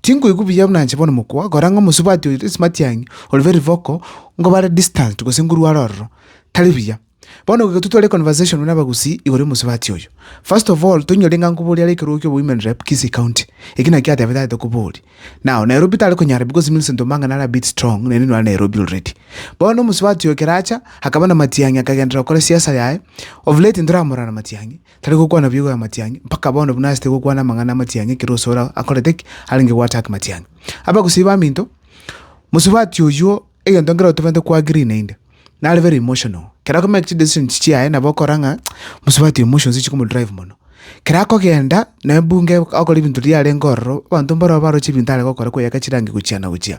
Tinkoigwa buya buna nche bono mokwa, kora ng'a omosubati oito esimatiang'i ore very vocal, nko bare distant gose nkorware ororo. Tari buya. Bono goika totware econversation buna abagusii igoro y'omosubati oyo. First of all, toinyore ng'a nkoboria are ekerogo kia obo-women rep Kisii County. Eki nakio atebete are tokoboria. Now, Nairobi tare konyara because Millicent Omanga nare a bit strong, naende nore Nairobi already. Bono omosubati oyo ekero acha, akaba na matiang'i akagenderera gokora siasa yaye, of late ntoramorora na matiang'i, Tari gokwana biogo y'amatiang'i, mpaka bono buna asete gokwana amang'ana amatiang'i ekero ose ore akorete ki? Arenge goacha ake matiang'i. Abagusii baminto, mosubati oyuo egento nkere otobwate ko agree naende, nare very emotional. Kero akomake chidecisions chiaye nabo okora ng'a mosubati oyo emotions chikomodrive mono. Kero akogenda, nonye bunga akore ebinto riria arenge ororo, abanto mbaroo baroche ebinto are gokora koyaka chirangi gochia na gochia.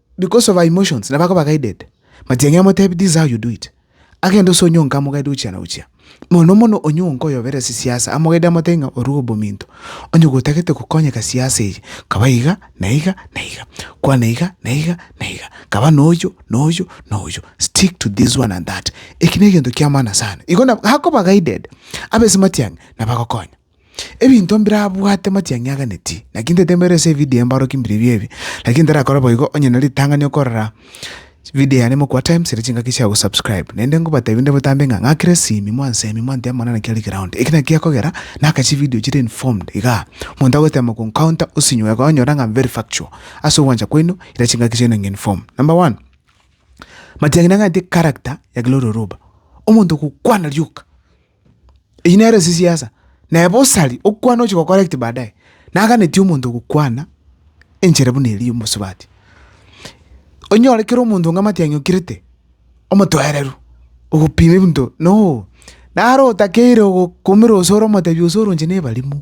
Because of her emotions nabo akoba guided. Matiang'i amotebi this is how you do it. Agende ase onye onke amogaide gochia na gochia. Mono mono onye onke oyobera ase siasa amogaide amotebi ng'a orue obominto. Onye gotagete gokonyeka siasa eye kaba iga na iga na iga. Kwana iga na iga na iga. Kaba noyo noyo noyo. Stick to this one and that. Eki negento kiamana sana. Igo nabo akoba guided. Abese matiang'i nabo agokonya. Ebinto mbirabwate matiang'i aganeti. Naki ntaete mbere ase evidio y'embarwoki mbiribio ebi, lakini ntarakora boigo onye na ritang'ani okorora vidio yane mokwa times ere chingaki chia gosubscribe. Naende ngobatebi inde botambe ng'a ng'akire simi mwansemi mwantebe mana naki are ground. Eki naki gekogera naka chividio chire informed iga omonto agochitema goencounter osinywe iga onyore ng'a very factual. Ase ogwancha kwaino ira chingaki chiaino ng'a inform. Number one, matiang'i nang'anete character ya Gloria Oruba, omonto ogokwana rioka. Eyio nere esisiasa, naye bosa aria okwana ochi gocorrect baadaye, naganeti omonto ogokwana enchera buna eria omosubati. Onyore kera omonto onga matiang'i okirete, omotoereru, ogopima ebinto, no! Naro otakeire ogokumera ose ore omotebi ose ore onche na ebarimu.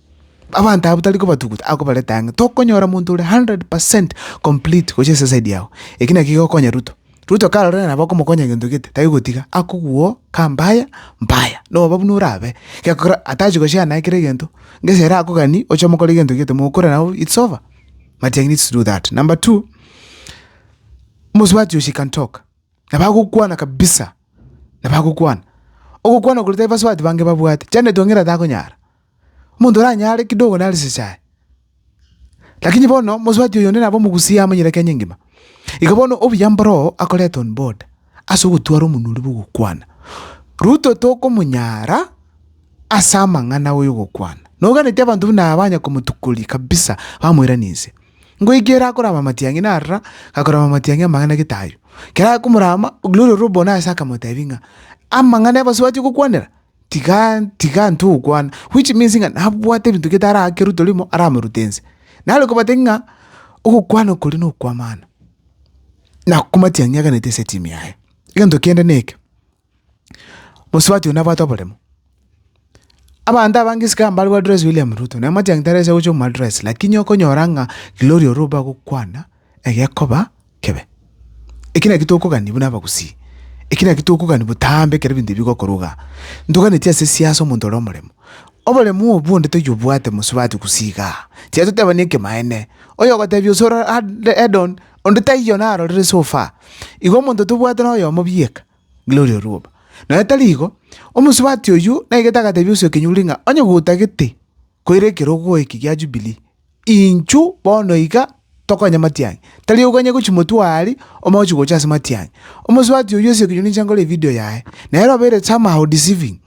Abanto abwo tari kobatuguta, akobareta ang'e. Tokonyora monto ore hundred percent complete gochia ase eside yago. Eki naki kigokonya Ruto. Ruto karorire nabo okomokonya gento gete, tari gotiga, akogwo ka mbaya, mbaya. Nobobe buna orabe. Gekora atachi goshare naye kera egento, ngese ere akogani oche omokore gento gete, mokore nao it's over. Matiang'i needs to do that. Number two, omosubati oyo she can talk. Nabo agokwana kabisa, nabo agokwana. Ogokwana koria tari basubati bange babwate. Janet Ong'ina takonyara. Omonto oranyare kidogo nare chichae. Lakini bono mosubati oyo onde nabo omogusie amonyire Kenya engima. Igo bono obuya mboro oo akorete on board ase ogotwara omonwa oria bw'ogokwana. Ruto tokomonyara ase amang'ana oyo ogokwana. Noganeti abanto buna aba banya komotukoria kabisa bamoirani inse. Ngoika ere akorama amatiang'i narora, akorama amatiang'i amang'ana gete ayio. Kera akomorama, Gloria Orobbo nase akamotebia ng'a amang'ana y'abasubati ogokwanera. Tiga tiga intwe gokwana, which means ng'a nabwate ebinto gete arakerwe torimo aramerute ense. Nare kobatebia ng'a ogokwana okoria na okw'amano, na komatiangia eganete ase etimu yaye. Egento kende na eke, mosubati oyo nabwate oboremo, abanto abange isiko ambare bwa dress William Ruto, namache aye tarase gocha omo address lakini okonyora ng'a Gloria Oromba agokwana egekoba kebe. Eki nakio tokogania buna abagusii, eki nakio tokogania botambe ekero ebinto ebi bigokorwa igaa. Ntoganetie ase siasa omonto ore omoremo. Oboremo obwo onde toyobwate mosubati gusii igaa. Tiga totebanie ekemanene. Oyogotebia ase ore Edon, onde taiyo narorire so far. Igo omonto tobwate na oyomo bieka, Gloria Orwoba. Nonya tari igo, omosubati oyio naigete agatebia ase okenyurure ng'a onye gotagete. Koira ekerogo eke gia Jubilii, inchu bono iga tokonya matiang'i, tari oganye gochia motwe o Aali, omogochi gocha ase matiang'i. Omosubati oyio ase ekenyoro ninche nkore evidio yaye, na ere obeire somehow deceiving.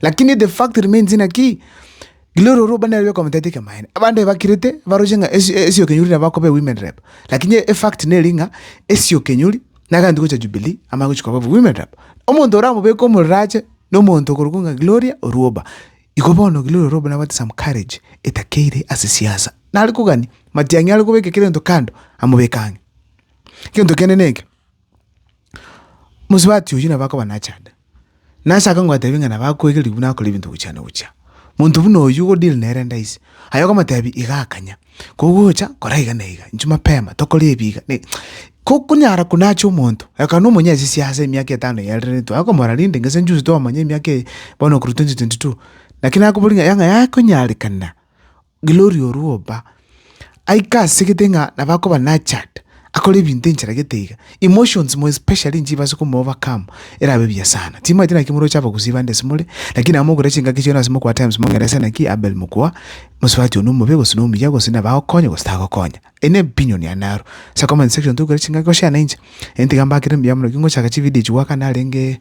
Lakini the fact remains ng'a ki? Glory ore oba nere okomotebia tekemaene. Abanto aye bakirete, baroche ng'a esi esiokenyori nabo akoba ewomen rep. Lakini efact nere ng'a, esiokenyori, nagaantu gocha Jubilii, amanye gochia koba owomen rep. Omonto oramobeke omorero ache, nomonto okorokwa ng'a Gloria orwa oba. Igo bono girorere obe na baptism courage etakeire ase siasa. Nare kogania matiang'i are kobeka kera gento kando amobeke ang'e. Gento kende neke, mosubati oyio nabo akoba nachande. Nase akangotebi ng'a nabo akoegeria buna akore ebinto gochia na gochia. Monto buna oyio ogo deal nere ndaisi. Aye okomotebi iga akanya. Kogocha kora iga na iga, inche mapema tokore ebi iga na iga. Konyara buna ache omonto, ekero na omonyesisi ase emiaka etano eye arenetwe, akomora rende ng'a ase njuzi twamanya emiaka eye bono korwa twenty twenty two. Naki nakoboria ng'a yang'a yakonyarekana, gloria orwo oba, aike asegete ng'a nabo akoba nurtured. akore ebinto enchera gete iga, emotions more especially inche ibaase komoa overcome erabe buya sana. Timaeti naki moroche abagusii bande ase more, lakini nabo mogoteba chingaki chiaino ase mokoa times mongeresa naki Abel mokoa, mosubati one omobe gose nomuya gose nabo agokonya gose tagokonya. Eye ne opinion yane aro. Ase comment section togokera chingaki goshare na inche, eye tiga mbakere mbuya mono, ekingochaka chividio echi goakana arenge